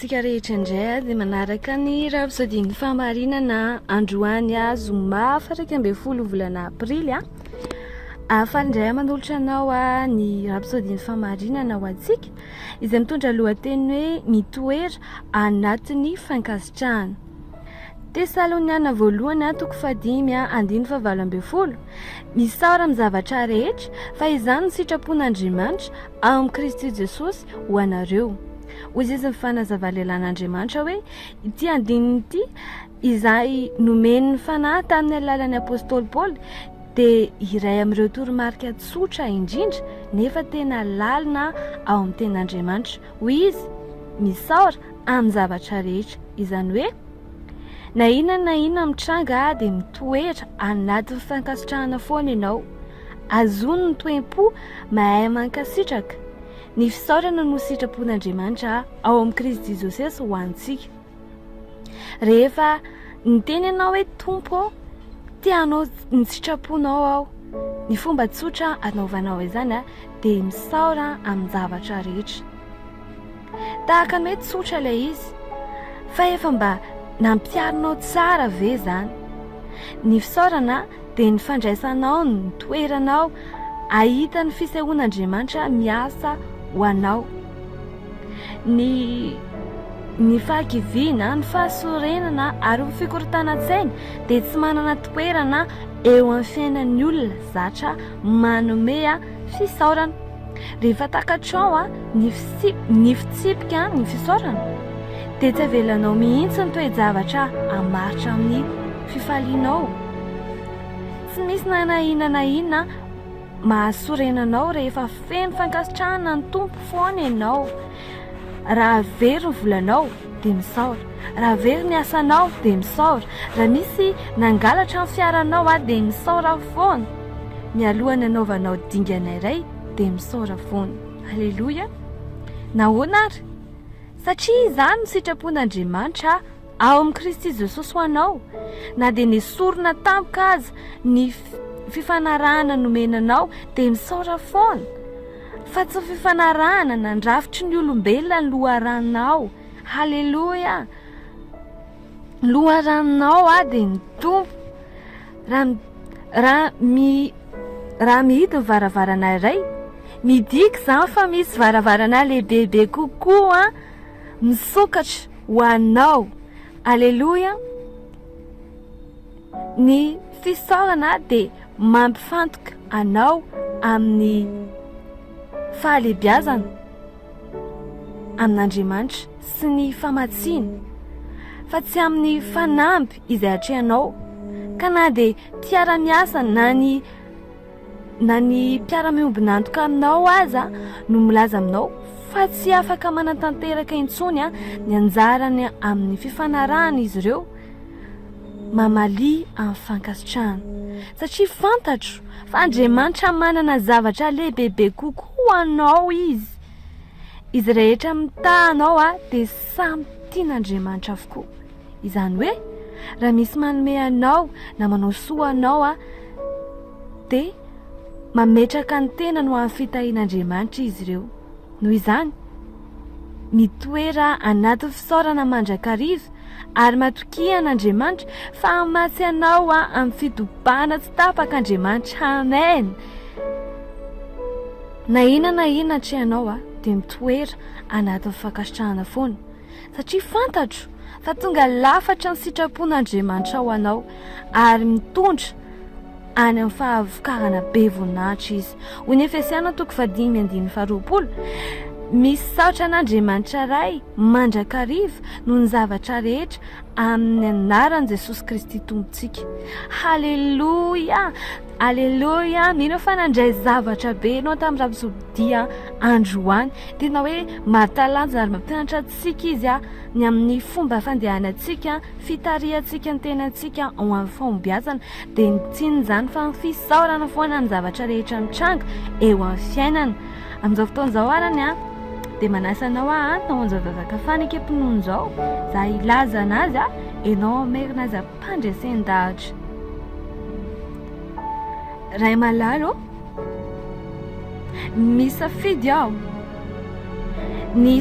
Tsika rehetra indray ady manaraka ny Rhapsodie-n'ny Fahamarinana androany zoma fatraika ambin'ny folo volana aprily a. Ah, faly indray manolotra anao ah, ny Rhapsodie-n'ny Fahamarinana ho antsika izay mitondra lohateny hoe mitoera anatin'ny fankasitrahana. Tesaloniana voalohany ah, toko fahadimy ah, andiny fahavalo ambin'ny folo. Misaora amin'ny zavatra rehetra fa izany ny sitrapon'Andriamanitra. Ao amin'i Kristy Jesosy ho anareo. Hoy izy ny fanazava lehilahin'Andriamanitra hoe ity andininy ity izay nomen'ny fanahy tamin'ny alalan'ny apostoly Paoly dia iray amin'ireo toromarika tsotra indrindra nefa tena lalina ao amin'ny tenin'Andriamanitra. Hoy izy, Misaora amin'ny zavatra rehetra, izany hoe, Na inona na inona mitranga dia mitoera anatin'ny fankasitrahana foana ianao. Azony ny toem-po mahay mankasitraka. Ny fisaorana no sitrapon'Andriamanitra ao amin'i Kristy Jesosy ho antsika. Rehefa niteny ianao hoe Tompo, te hanao ny sitraponao aho. Ny fomba tsotra anaovanao izany dia misaora amin'ny zavatra rehetra. Tahaka ny hoe tsotra ilay izy, fa efa mba nampiharinao tsara ve izany? Ny fisaorana dia ny fandraisanao ny toeranao ahita ny fisehoan'Andriamanitra miasa ho anao. Ny ny fahakiviana, ny fahasorenana ary ny fikorontanan-tsaina dia tsy manana toerana eo amin'ny fiainan'ny olona zatra manome Fisaorana. Rehefa takatrao ny ny fitsipika ny fisaorana dia tsy avelanao mihitsy ny toe-javatra hamaritra amin'ny fifalianao. Tsy misy na na inona na inona mahasorena anao rehefa feno fankasitrahana ny Tompo foana ianao. Raha very ny volanao, dia misaora. Raha very ny asanao dia misaora. Raha misy nangalatra ny fiaranao aho dia misaora foana. Mialoha ny anaovanao dingana iray dia misaora foana. Aleloia. Nahoana ary? Satria izany no sitrapon'Andriamanitra ao amin'i Kristy Jesosy ho anao. Na dia nesorina tampoka aza ny fifanarahana nomena anao dia misaora foana. Fa tsy fifanarahana nandrafitry ny olombelona ny loharanonao. Haleloia! Ny loharanonao aho dia ny Tompo. Raha raha mi raha mihidy ny varavarana iray, midika izany fa misy varavarana lehibebe kokoa misokatra ho anao. Haleloia! Ny fisaorana dia mampifantoka anao amin'ny fahalebiazana amin'Andriamanitra sy ny famatsiany fa tsy amin'ny fanamby izay atrehanao ka na dia mpiara-miasa na ny na ny mpiara-miombon'antoka aminao aza no milaza aminao fa tsy afaka manatanteraka intsony ny anjarany amin'ny fifanarahan'izy ireo Mamalia amin'ny fankasitrahana, satria fantatro fa Andriamanitra manana zavatra lehibebe kokoa ho anao Izy. Izy rehetra mitaha anao ah, dia samy tian'Andriamanitra avokoa. Izany hoe, raha misy manome anao na manao soa anao ah, dia mametraka ny tenany ho amin'ny fitahian'Andriamanitra izy ireo. Noho izany, Nitoera anaty fisaorana mandrakariva ary matokia an'Andriamanitra fa hamatsy anao amin'ny fitobana tsy tapaka Andriamanitra. Amen! Na inona na inona atrehanao aho dia mitoera anatin'ny fankasitrahana foana satria fantatro fa tonga lafatra ny sitrapon'Andriamanitra ho anao ary mitondra any amin'ny fahavokarana be voninahitra izy. Hoy ny Efesiana toko fahadimy andininy faharoapolo, Misaotra an'Andriamanitra Ray mandrakariva noho ny zavatra rehetra amin'ny anaran'i Jesosy Kristy Tompontsika. Haleloia! Haleloia! Mino fa nandray zavatra be ianao tamin'ny rapisodia androany. Tena hoe mahatalanjona ary mampianatra antsika izy ny amin'ny fomba fandehanantsika, fitarihantsika ny tenantsika ho amin'ny fahombiazana. dia ny tsiny izany fa ny fisaorana foana ny zavatra rehetra mitranga eo amin'ny fiainana. Amin'izao fotoana izao arany an, dia manasa anao aho ho an'izao zazaka faneke mpinono izao, za hilaza anazy an, enao merina azy ampandresen-dahatra. Ray malala ô, misafidy aho, ny